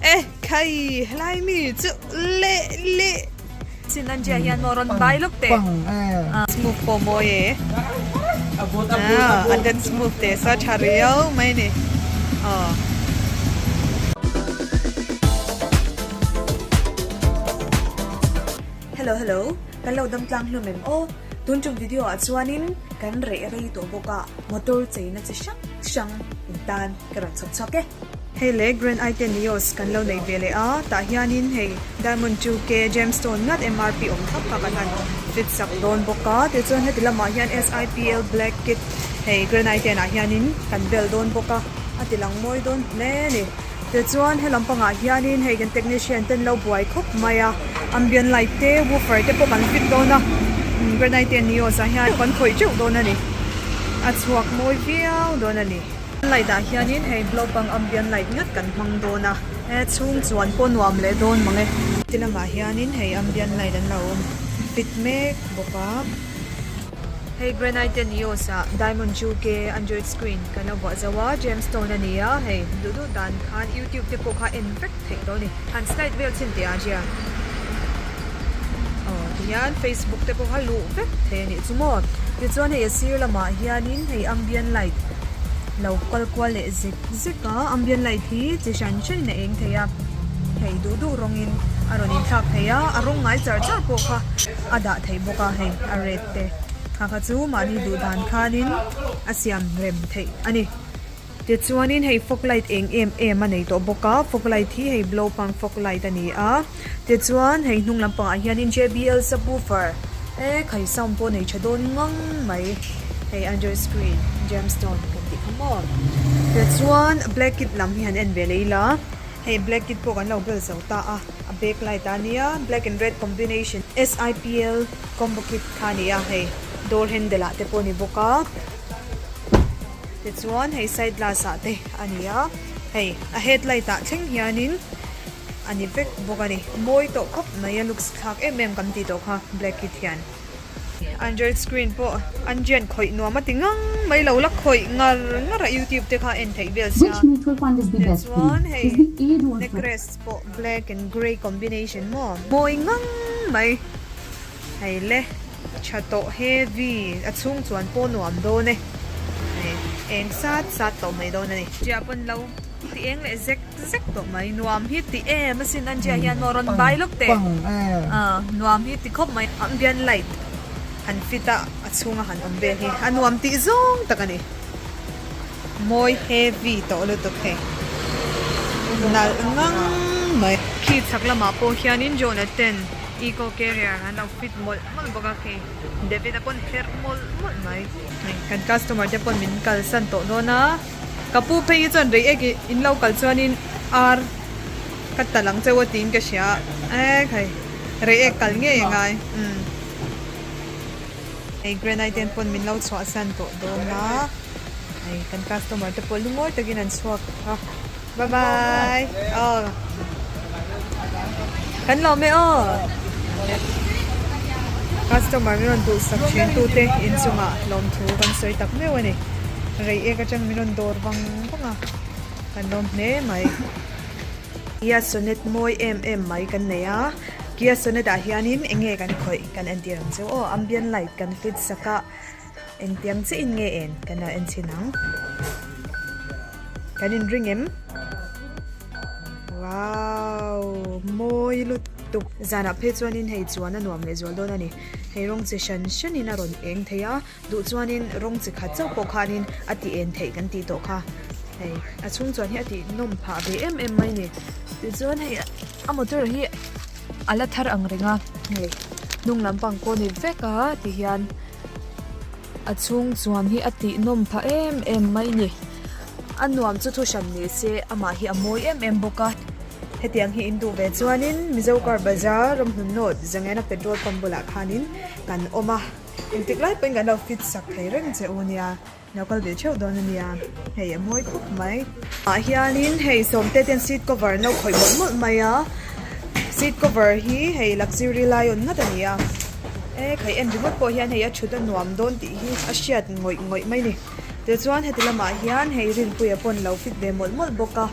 Eh khai helai mi chu le le sin an jia hian moron bai lok te smooth po moi e a den smooth te sa tha riau mai ni oh hello hello kan lo dam tlang hlawm em aw tun chung video ah chuan in kan reh rei tawh bawk a. motor cheina chi hrang hrang in tan ka rawn chhawp chhuak e. Hei leh Grand I ten Nios kan lo nei ve leh a, tah hianin hei Diamond two K Gemstone ngat mrp awm tak kha kan han fit sak dawn bawk a, tichuan heti lamah hian SIPL Black Kit hei Grand I ten ah hianin kan bel dawn bawk a, a tilang mawi dawn hle a ni. Tichuan helam pangah hianin hei kan technician ten lo buai khawp mai a ambient light te woofer te pawh kan fit dawn a granite te an ni awh zah hian pawh kan khawih teuh dawn a ni a chhuak mawi viau dawn a ni light ah hianin hei blow pang ambient light ngat kan hmang dawn a a chhung chuan pawh nuam leh dawn mang e ti lamah hianin hei ambient light an lo fit mek bawk a. Hei granite te ni awsa diamond chu ke android screen kan la vuah zo a gem stone a ni a hei duh duh dan khan youtube te pawh kha en vek theih lo ni han slide vel chin teh ah hian aw tihian facebook te pawh kha luh vek theih a nih chu maw tichuan hei a sir lamah hianin hei ambient light lo kual kual leh zek zek a ambient light hi chi hran ṭhin a eng thei a hei duh duh rawngin a rawn inthlak thei a a rawng ngai char char pawh kha. a dah theih bawk a hei a red te ha kha chu mahni duh dan khan in a siam rem theih a ni tichuan in hei fog light eng em em a nei tawh bawk a fog light hi hei blow pang fog light a ni a tichuan hei hnung lam pang ah hian in jbl subwoofer e khai sound pawh a nei tha dawn ngang mai hei under screen gemstone kan tih kha maw tichuan black it lam hi han en ve leh ila. Hei black kit pawh kan lo bel zo ta a, a back light a nia, black and red combination SIPL combo kit kha a ni a, hei door handle ah te pawh a ni bawk a, tichuan hei side glass ah te a ni a, hei a head light ah thleng hianin a ni vek bawk a ni, mawi tawh khawp mai a, looks thlak em em kan tih tawh kha black kit hian. Android screen pawh an rian khawih nuam a ti ngang mai lo la, khawih ngar ngar a youtube te kha en theih vel sia. Tichuan hei necklace pawh black and grey combination maw mawi ngang mai hei le, tha tawh heavy a chhung chuan pawh nuam dawn e, hei eng sat sat tawh mai dawn a ni. Tia pawn lo Ti eng leh zek zek tawh mai. Nuam hi ti em a sin Anjia hian maw rawn bai lawk teh. Nuam hi ti khawp mai. Ambient light han fit a a chhunga han awm vel hi a nuam tih zawng tak a ni. Mawi heavy tawh lutuk hei. Nalh ngang mai. Khi chak lamah pawh hianin Jonah ten eco carrier an lo fit mawlh mawlh bawk a khi David a pawn herh mawlh mawlh mai. Kan customer te pawn min kalsan tawh dawn a. Ka pu Phei hi chuan rei ek i in lo kal chuanin ar ka tal ang chauh a tiin ka hria a. Ae khai, rei ek kal ngei angai umm. Hei granite ten pawn min lo chhuahsan tawh dawn a, hei kan customer te pawh lungawi takin an chhuak a. Bye bye aw kan lawm e aw customer min rawn duhsak thin tu te inchunga lawm thu kan sawi tak meuh a ni rei ek atang min rawn dawr vang vang a kan lawm hle mai Kia Sonet mawi em em mai kan nei a Kia Sonet ah hian in enge kan khawih kan entir ang chu aw ambient light kan fit sak a. Engtiang chiin nge en kan lo enchin ang? Kan inring em? Wow! Mawi lutuk! Zanah phei chuanin hei chuan a nuam leh zual dawn a ni. Hei rawng chi hran hranin a rawn eng thei a, duh chuanin rawng chi khat chauh pawh khanin a ti en theih kan tih tawh kha. Hei a chhungchuan hi a tih nawm phah ve em em mai ni. Tichuan hei a. A motor hi a la thar ang reng a, hei hnung lampang pawh a nip vek a ti hian a chhung chuan hi a tihnawm pha em em mai ni. A nuam chu thu hran ni se amah hi a mawi em em bawk a. Hetiang hi in duh ve chuanin Mizo Car Bazaar ram hnun nawt Zangena petrol pump bulah khanin kan awm a, engtik lai pawhin kan lo fit sak thei reng che u nia. Lo kal ve theuh dawn a nia. Hei a mawi khawp mai. Tah hianin hei sawmte ten seat cover an lo khawih mawlh mawlh mai a. Seat cover hi hei luxury lai awn ngat a ni a. E khawih en ringawt pawh hian hei a thut a nuam dawn tih hi a hriat ngawih ngawih mai ni. Tichuan heti lamah hian hei rinpui a pawn lo fit ve mawlh mawlh bawk a.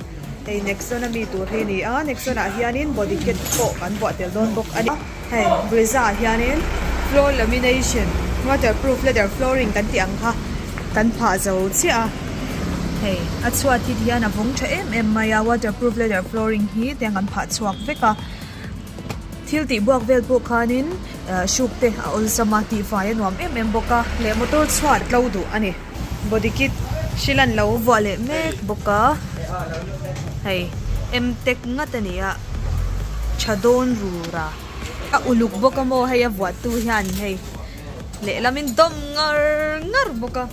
Hei Nexon a mi tur hi a ni a. Nexon ah hianin body kit pawh kan vuah tel dawn bawk a ni. Hei Brizza ah hianin floor lamination, waterproof leather flooring kan tih ang kha kan phah zo chiah a. Hei a chhuat hi ti hian a vawng tha em em mai a, waterproof leather flooring hi tiang kan phah chhuak vek a. Thil tih buak vel pawh khanin ahh hruk te a awlsam a, tihfai a nuam em em bawk a. Leh motor chhuat tlo duh a ni. body kit hrilh an lo vuah leh mek bawk a hei m tech ngat a nia tha dawn rura a uluk bawk a maw hei a vuah tu hian hei lehlamin in dawm ngar ngar bawk a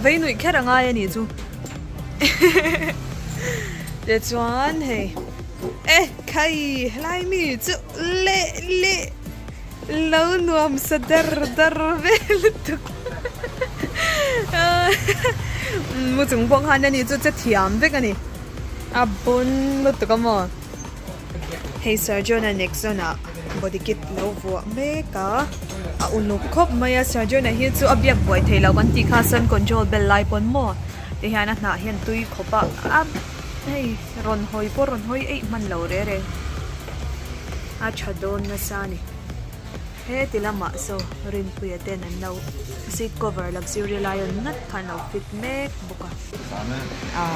veinuih kher a ngai a nih chu heheheheh tichuan hei e khai helai mi chu leh leh. Lo nuam sa dar dar ve lutuk mu chung pawh khan ani chu che thiam vek ani a bun lutuk a maw hei sergeant-a next zone ah body kit lo vuah mek a a unuk khawp mai a sergeant a hi chu a biak buai thei lo kan tih kha sun control bel lai pawn maw ti hian a hnah hian tui khawp a a hei rawn hawi pawh rawn hawi eih hman lo reng reng. a tha dawn nasa a ni. He ti lamah saw rinpuia ten an lo seat cover luxury lai awn ngat kha an lo fit mek bawk a.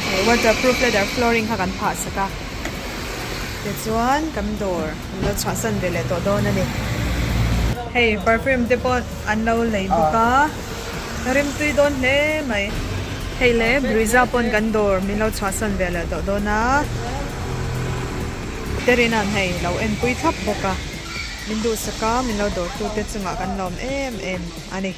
He waterproof leather flooring kha kan phah sak a, tichuan kan dawr an lo chhuahsan ve leh tawh dawn a ni. Hei perfume te pawh an lo lei bawk a, ka rimtui dawn hle mai. Hei le bruiser pawn kan dawr min lo chhuahsan ve leh tawh dawn a. Terina'n hei lo enpui thlap bawk a, min duh sak a, min lo dawr tute chungah kan lawm em em a ni.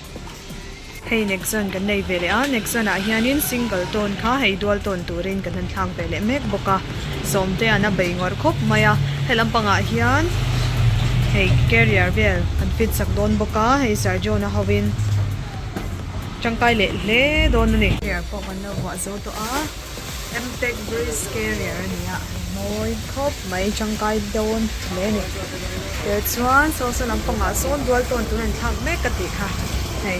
Hei next zone kan nei ve leh a, next zone ah hianin single tawn kha hei dual tawn turin kan han thlak ve leh mek bawk a, sawmtea'n a bei ngawrh khawp mai a, helam pangah hian hei carrier vel kan fit sak dawn bawk a, hei Sergio na hoin tangkai leh hle dawn a ni. Carrier pawh kan lo vuah zo tawh a. Mtech Breeze Carrier a ni a, mawi khawp mai, tangkai dawn hle a ni. Kei chuan sawsa lampangah sawn dual tawn tur a ni thlak mek ka tih kha, hei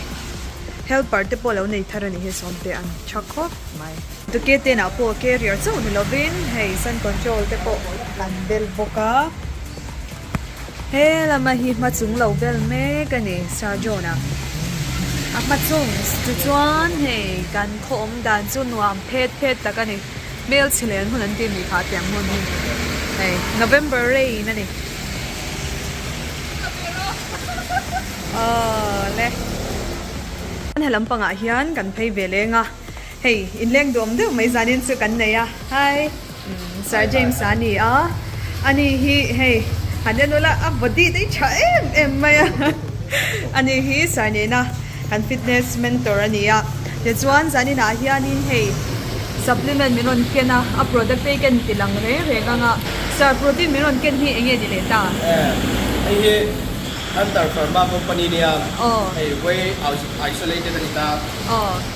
helper te pawh lo nei thar a nih hi sawmte a ni tha khawp mai. Ducati ah pawh carrier chauh ni lovin hei sun control te pawh kan bel bawk a. He lama hi hma chung lo ber mek a ni, Sir John-a. A hma chung chu chuan hei kan khawawm dan chu nuam phet phet tak a ni. Hmelchhe leh an hun an tih ni kha a tiang hmun hi hei November rain a ni. Aww le. He lampangah hian kan phei ve leng a. Hei, inleng duhawm deuh mai zanin chu kan nei a. Hi. Umm, Sir James-a a ni a. Ani hi hei, han en ula, a body dei tha em em mai a. Ani hi Sir nena kan fitness mentor a ni a. Tichuan zaninah hianin hei supplement min rawn ken a, a product te hi kan inti lang reng reng ang a. Sir, protein min rawn ken hi eng nge ni leh ta? Eh, hei hi Hunter Pharma company nia. Aw. Hei whey isolated a ni ta. Aw.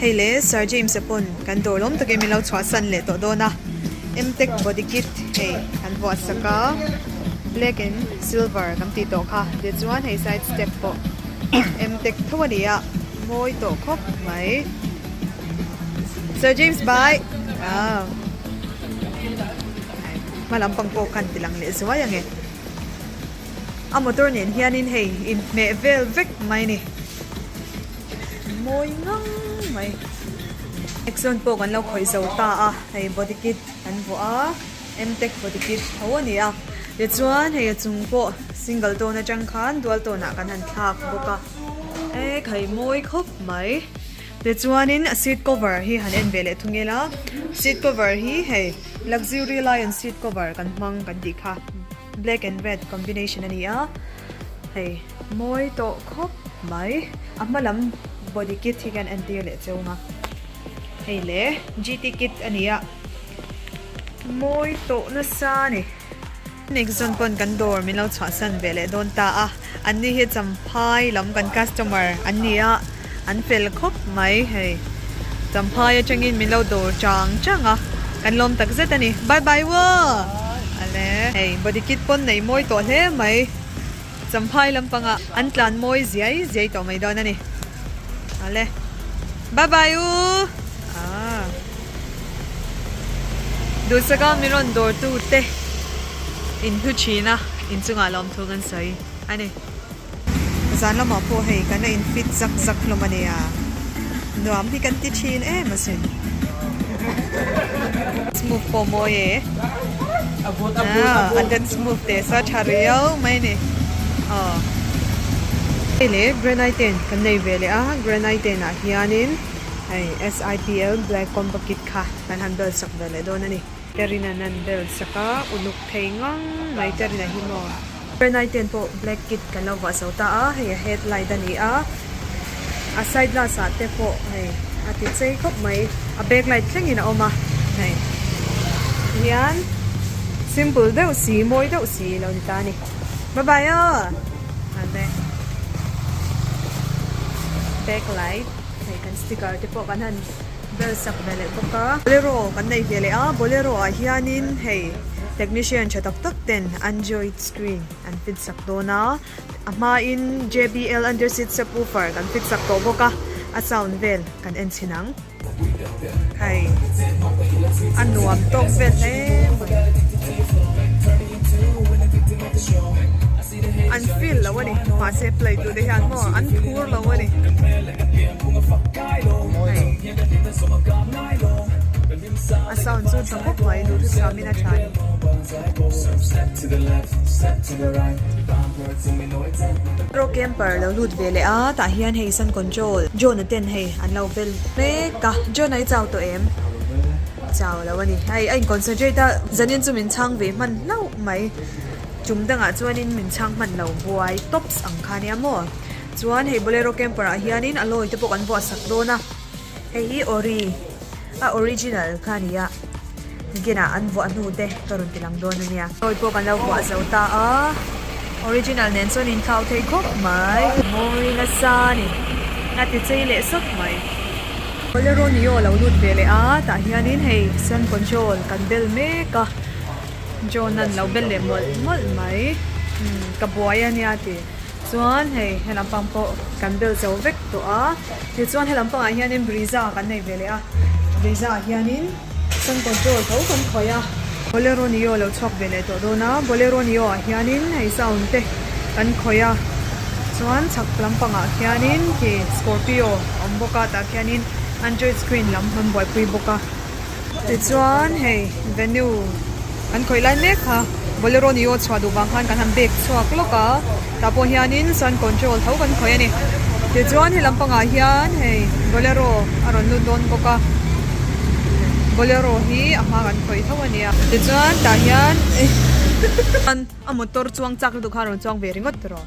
Hei le Sir James-a pawn kan dawr lawm takin min lo chhuahsan leh tawh dawn a. Mtech body kit hei kan vuahsak a, black and silver kan tih tawh kha. Tichuan hei side step pawh Mtech tho a ni a, mawi tawh khawp mai. Sir James bai! Aw! Hma lam pang pawh khan ti lang leh zuai ang e. A motor nen hianin hei inhmeh vel vek mai ni. Mawi ngang mai. Exon pawh kan lo khawih zo ta a, hei body kit kan vuah a, Mtec body kit tho a ni a. Tichuan hei a chung pawh single tone atang khan dual tone ah kan han thlak bawk a. Ehh kai mawi khawp mai. Tichuanin a seat cover hi han en ve leh thu ngela. Seat cover hi hei luxury lion seat cover kan hmang kan tih kha. Black and red combination a ni a, hei mawi tawh khawp mai. A hma lam body kit hi khian en tir leh cheu nga. Hei le GT kit a ni a, mawi tawh nasa a ni. Next zâwn pawn kan dawr min lo chhuahsan ve leh dawn ta a. An ni hi Champhai lam kan customer an ni a, an fel khawp mai hei. Champhai atangin min lo dawr chang chang a, kan lawm tak zet a ni. Bye bye wo! Ane hei body kit pawh nei mawi tawh hle mai. Champhai lampang ah an tlan mawi ziai ziai tawh mai dawn a ni. Ane bye bye u! Aa. Dulsaka mi rawn dawrtu te in hnu thin a, inchungah la awm thung an sawi a ni. Zan lamah pawh hei kan la in fit zak zak hlawm a nia, nuam hi kan ti thin em asin. Smooth pawh mawi e, an kan smooth teh sa tha rio mai ni aw. Hei le granite ten kan nei ve leh a, granite ten ah hian in. Hei SIPL Black Combo Kit kha kan han belsak ve leh dawn a ni. Terina nan belsak a, uluk thei ngang mai Terina hi maw. Pernai ten pawh Black Kit kan lo vah zo ta a, hei a Head Light a ni a, a Side Glass ah te pawh hei a ti chei khawp mai, a Back Light thleng in a awm a, hei ti hian Simple deuh si, mawi deuh si lo ni ta a ni. Bye bye aw! Hei Back Light. Hei kan sticker te pawh kan han bel sak ve leh bawk a. Bolero kan nei ve leh a, Bolero ah hianin hei technician tha tak tak ten Android screen an fit sak dawn a, a hmain JBL under seat subwoofer kan fit sak tawh bawk a, a sound vel kan en chhin ang. Hei a nuam tawk vel hle mai. An feel lo a ni mahse play tur te hian maw an thur lo a ni. A sound chu tha khawp mai duh thu samin a tha ni. Pro camper lo lut ve leh a tah hian hei sun control John-a ten hei an lo vel mek a John-a i chau tawh em? Chau lo a ni hei a in concentrate a zanin chu min chhang ve hman hlauh mai. Chum dangah chuanin min chhang hman lo buai tops ang kha nia maw. Chuan hei Bolero Camper ah hianin a lawite pawh kan buatsak dawn a. Hei hi Ori a original kha ni a. Gen ah an vuah hnu te ka rawn ti lang dawn a nia. Lawi pawh kan lo vuah zo ta a, original nen chuan in thlau thei khawp mai. Mawi nasa a ni, a ti chei leh sawp mai. Bolero ni aw lo lut ve leh a, tah hianin hei Sun Control kan bel mek a. John a lo bel leh mawlh mawlh mai. Umm, ka buai a nia ti. Chuan hei helam pang pawh kan bel cho vek tawh a. Tichuan helam pangah hianin Brisa kan nei ve leh a. Brisa-ah hianin San Control tho kan khawih a. Bolero nio lo chhuak ve leh tawh dawn a. Bolero nioah hianin hei sound te kan khawih a. Chuan chhak lam pangah khianin hei Scorpio a awm bawk a. Tah khianin Android screen lam han buaipui bawk a. Tichuan hei venue kan khawih lai mek kha bolero ni awh chhuah duh vang khan kan han bag chhuak lawk a, tah pawh hian in sun control tho kan khawih a ni. Tichuan hei lam pangah hian hei bolero a rawn lut dawn bawk a, bolero hi a hma kan khawih tho a ni a. Tichuan tah hian a motor chuang chak lutuk khan a rawn chuang ve ringawt rawh.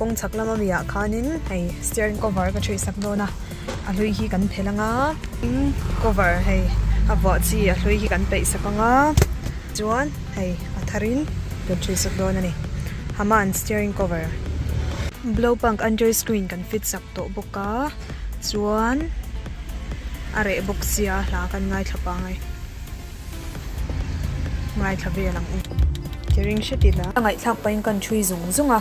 Kawng chhak lam ami ah khan in hei steering cover ka ṭhawi sak dawn a, a hlui hi kan phelh ang a, tin cover hei a vuah chi a hlui hi kan peih sak ang a, chuan hei a thar in kan ṭhawi sak dawn a ni. Haman steering cover blow punk under screen kan fit sak tawh bawk a, chuan a reh bawk sia hla kan ngaithla pangai. Ngaithla vel ang e. Ke ring hret ila. Ka ngaihthlak pahin ka ṭhui zung zung a.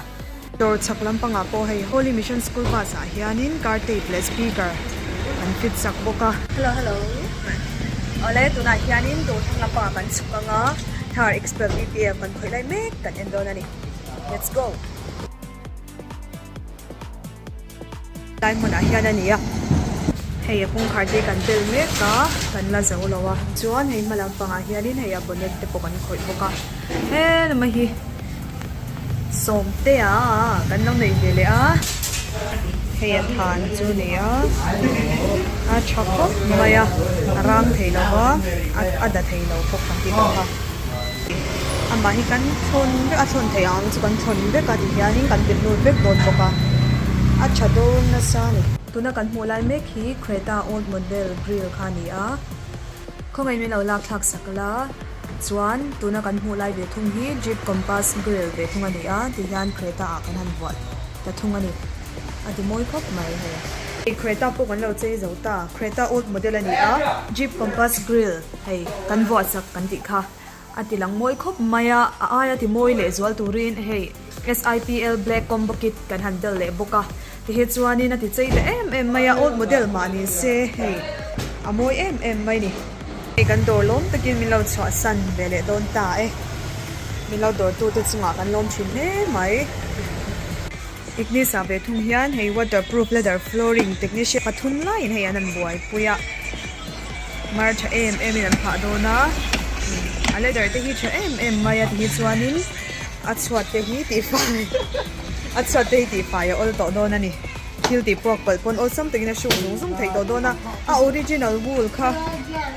Dawr chhak lampangah pawh hei Holy Mission School bus ah hianin car tape leh speaker an fit chak bawk a. Hello hello awle tunah hianin dawr chhak lampangah kan chhuk anga thar expel ppf kan khawih lai mek kan en dawn a ni. Let's go. Lai hmunah hian a ni a, hei a kawngkhar te kan tel mek a, kan la zo lo a, chuan hei hma lam pangah hianin hei a bonnet te pawh kan khawih bawk a, he lama hi Sawmtea kan lo nei ve leh a, hei a than chu ni a, a tha khawp mai a, a rang thei lo va, a da thei lo bawk ang hi ka hma. amah hi kan chhawn vek a chhawn theih ang chu kan chhawn vek a tihianin kan ti hnu vek dawn bawk a a tha dawn nasa a ni. Tuna kan hmuh lai mek hi Creta old model grille kha a ni a, khawngei min lo lak thlak sak la chuan tuna kan hmuh lai ve thung hi Jeep Compass grille ve thung a ni a tihian Creta ah kan han vuah ta thung a ni a ti mawi khawp mai hei. Creta pawh kan lo chei zo ta, Creta old model a ni a Jeep Compass grille. Hei kan vuah chak kan tih kha a ti lang mawi khawp mai a, a aia ti mawi leh zual turin hei SIPL Black Combo Kit kan han tel leh bawk a, tihi chuanin a ti chei ta em em mai a, old model mah ni se hei a mawi em em mai ni. Hei kan dawr lawm takin min lo chhuahsan ve leh dawn ta e, min lo dawrtute chungah kan lawm thin hle mai. Ignis a ve thung hian hei waterproof ladder flooring technician pathum laiin hei an han buaipui a, mar tha em emin an phah dawn a, a ladder te hi tha em em mai a ti hi chuanin a chhuat te hi tifai a chhuat te hi tifai a awl tawh dawn a ni, thil tih buak pawlh pawn awlsam takin a hruk zung zung theih tawh dawn a, a original wool kha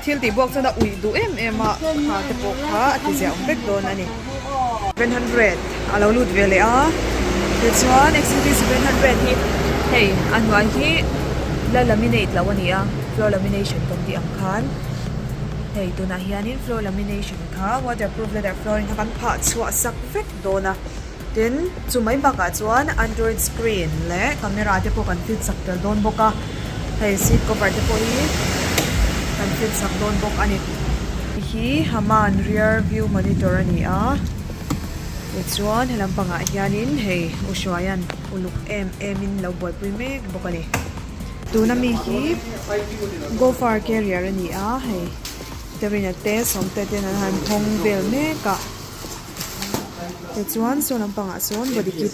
thil tih buak chuan a uih duh em em a, khate pawh kha a tiziah awm vek dawn a ni. Seven hundred a lo lut ve leh a, tichuan XUV seven hundred hi hei a hnuai hi la laminate loh a ni a, floor lamination kan tih ang khan hei tunah hianin floor lamination kha waterproof leather flooring kha kan phah chhuah sak vek dawn a, tin chu mai bakah chuan android screen leh camera te pawh kan fit sak tel dawn bawk a. Hei seat cover te pawh hi kan fit sak dawn bawk a ni. Hei hi Haman rear view monitor a ni a, tichuan he lam pangah hianin hei u hruaia'n uluk em emin lo buaipui mek bawk a ni. Tuna mi hi Gopher carrier a ni a, hei Terina te Sawmte ten an han hawng vel mek a, tichuan saw lampangah sawn body kit.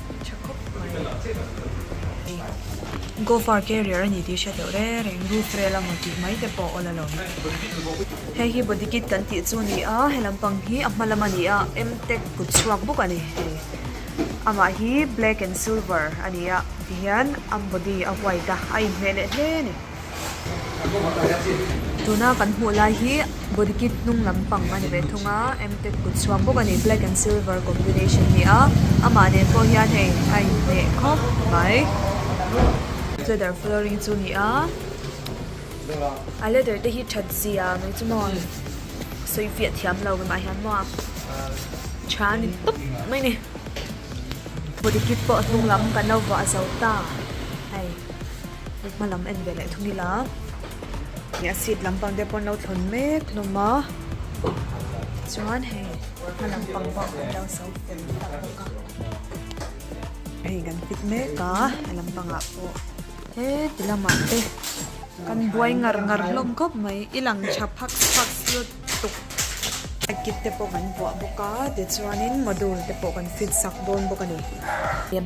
Tha khawp mai. Ei Gofar carrier a ni tih hre deuh reng reng. Roof rail a maw tih mai te pawh awl alo. Hei hi body kit kan tih chu a ni a, he lampang hi a hma lam a ni a, M tech kut chhuak bawk a ni. Hei amah hi black and silver a ni a, tihian a body a white a, a inhmeh leh hle a ni. Tuna kan hmuh lai hi body kit hnung lampang a ni ve thung a M tech kut chhuak bawk a ni black and silver combination a ni a amah nen pawh hian hei a in hneh khawp mai leather flooring chu a ni a a leather te hi that zia mai chu maw sawi fiah thiam lo mah hian maw tha ni tawp mai a ni body kit pawh hnung lam kan lo vahzo ta hei. I hma lam en ve leh thung ila. Ih a seat lampang te pawh an lo thlawn mek hlawm a. Chuan hei hma lampang pawh an lo so fel tak bawk a. Hei kan fit mek a, he lampang ah pawh. Heti lamah te kan buai ngar ngar hlawm khawp mai. I lang tha phak phak chu. tuk. High kit te pawh kan vuah bawk a, tichuanin module te pawh kan fit sak dawn bawk a ni.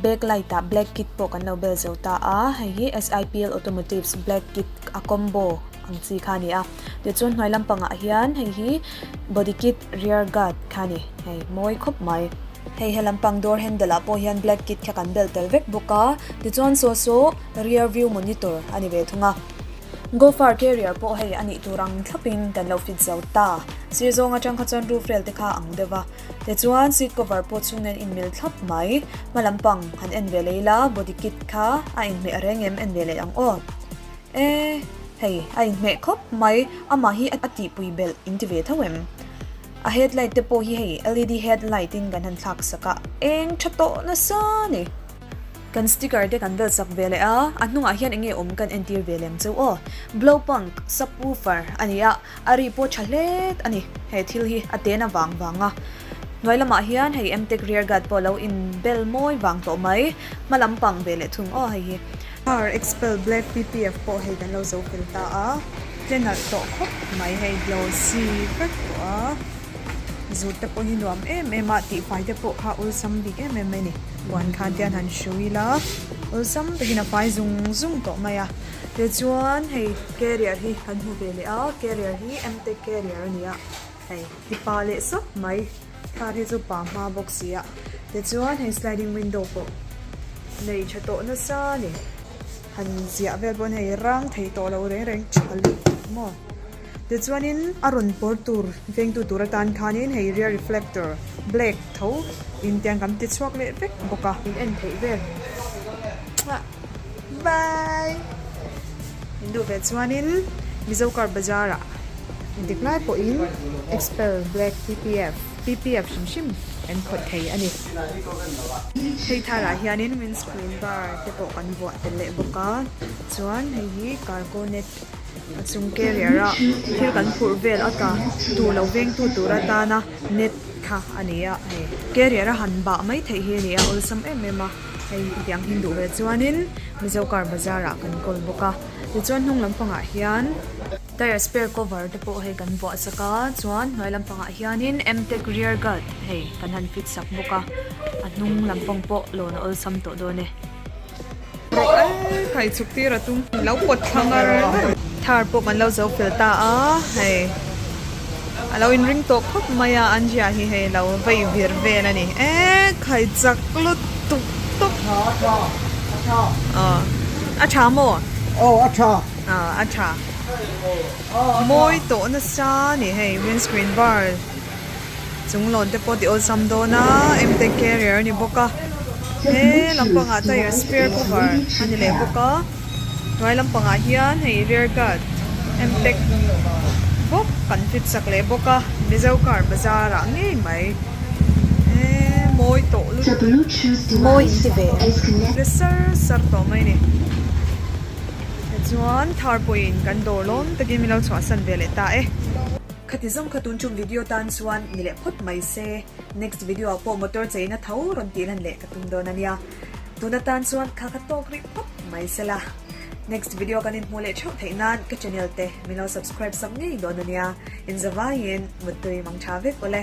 Back light ah black kit pawh kan lo bel zo ta a, hei hi SIPL Automotives black kit a combo ang chi kha a ni a, tichuan hnuai lampang ah hian hei hi body kit rear guard kha a ni, hei mawi khawp mai. Hei he lampang door handle ah pawh hian black kit kha kan bel tel vek bawk a, tichuan saw saw rear view monitor a ni ve thung a. Gofar carrier pawh hei a nih tur ang thlap in kan lo fit zo ta. Sir zawng atang kha chuan roof rel te kha ang deuh va. Tichuan seat cover pawh chung nen in mil thlap mai. Hma lam pang han en ve lei la, body kit kha a in hmeh reng em en ve leh ang aw. E, hei a in hmeh khawp mai, amah hi a tihpui belh in ti ve tho em? A headlight te pawh hi hei LED headlight in kan han thlak sak a, eng tha tawh nasa ni. Kan sticker te kan vel sak ve leh a, a hnungah hian enge awm kan entir ve lem cheu aw. Blowpunk, subwoofer, a ni a, a ri pawh tha hlet a ni. He thil hi a ten avang vang a. Hnuai lamah hian hei Emtek rear guard pawh lo in bel mawi vang tawh mai. Hma lam pang ve leh thung aw hei hi. Car expel black PPF pawh hei kan lo zo fel ta a, tle nalh tawh khawp mai hei glossy vek tawh a. Zut te pawh hi nuam em em a, tihfai te pawh kha awlsam bik em em mai a ni. Puan khan te an han hru ila awlsam takin a fai zung zung tawh mai a. Tichuan hei carrier hi kan hmu ve leh a, carrier hi Emtek carrier a ni a, hei hi pa leh sawp mai. Thar hi chu pa hma bawk si a. Tichuan hei sliding window pawh nei tha tawh nasa a ni. Han ziah vel pawh hei rang thei tawh lo reng reng tha lutuk maw. Tichuanin a rawn pawr tur vengtu tur atan khanin hei rear reflector black tho in tiang kan ti chhuak leh vek bawk a. In en theih vel chhuah bai in duh ve chuanin Mizo car bazar ah in dik lai pawhin xpel black ppf ppf hrim hrim kan khawih thei a ni. Hei thar ah hianin windscreen bar te pawh kan vuah tel leh bawk a chuan hei hi cargo net. A chung carrier ah thil kan phurh vel a ta tu lo vengtu tur atana net thla a ni a hei carrier a han bah mai theih hi a ni a awlsam em em a hei hetiang hi duh ve chuanin Mizo car bazar ah kan call bawk a tichuan hnung lampang ah hian tyre spare cover te pawh hei kan vuah sak a chuan hnuai lampang ah hianin M tech rear guard hei kan han fit sak bawk a a hnung lampang pawh lawn a awlsam tawh dawn e. Rawh al kai chuk tir a tum. Min lo pawt thlang ar mai. Thar pawh kan lo zo fel ta a, hei a lo in ring tawh khawp mai a, Anzia hi hei lo vei vir vel a ni e, khai chak lut tuk tuk. A tha, a tha, a tha. A tha maw? Aw a tha. Aw a tha. Mawi tawh nasa a ni hei, windscreen bar. Chung lawn te pawh ti awlsam dawn a M Tech carrier a ni bawk a, he lampangah tyre spare cover a ni leh bawk a, hnuai lampangah hian hei rear guard M Tech bawk kan fit chak leh bawk a, Mizo car bazar ah ngei mai he mawi tawh lut mawi hi ve le sar sar tawh mai ni. Tichuan thar pawhin kan dawr lawm takin min lo chhuahsan ve leh ta e. Khati zawng kha tun tum video tan chuan ni leh phawt mai se, next video ah pawh motor chei na tho rawn tih lan leh ka tum dawn a nia, tun atan chuan kha ka tawk rih phawt mai se la, next video kan in hmuh leh theuh theih nan ka channel te min lo subscribe sak ngei dawn a nia, in zavai in muttui mang tha vek ule.